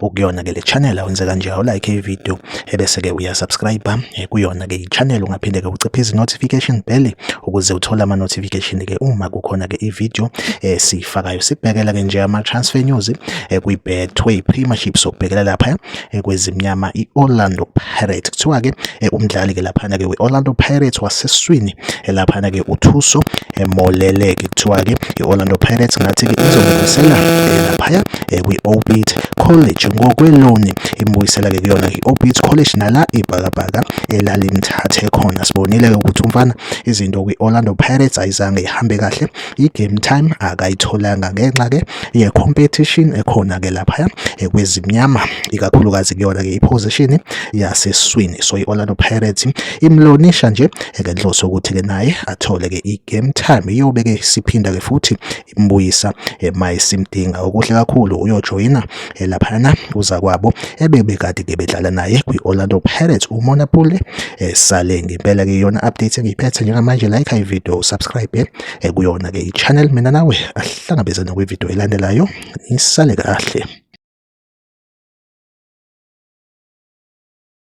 ukuyona ke le channel awenze kanje u like video ebese ke uya subscribe eh, kuyona ke i-channel ungaphinde ke uciphe izi notification bell ukuze uthole ama notification ke uma kukhona ke i-video esifakayo eh, sibhekela ke nje ama transfer news eh, kwi Betway Premiership sokubhekela lapha kwezimnyama i-Orlando Pirates kuthiwa ke umdlali ke lapha ke we-Orlando Pirates waseswini elaphana-ke uthuso emolele-ke kuthiwa-ke i-orlando pirates ngathi-ke izomubuyisela laphaya kwi-obit college ngokweloni imubuyisela-ke kuyona i-obit college nala ibhakabhaka elalimthathe khona sibonile-ke ukuthi umfana izinto kwi-orlando pirates ayizange ihambe kahle i-game time akayitholanga ngenxa-ke ye-competition ekhona-ke laphaya kwezimnyama ikakhulukazi kuyona-ke iphozishini yaseswini so i-orlando pirates imlonisha nje ngenhloso yokuthi-ke naye athole-ke i-game time iyobe-ke siphinda-ke futhi imbuyisa uma isimdinga okuhle kakhulu uyojoyina laphayana kuza kwabo ebebekade-ke bedlala naye kwi-orlando pirates umonapule esale ngempela-ke yona update engiyiphethe njengamanje like ivideo subscribe ekuyona ke i-channel mina nawe asihlangabezane kwividiyo elandelayo nisale kahle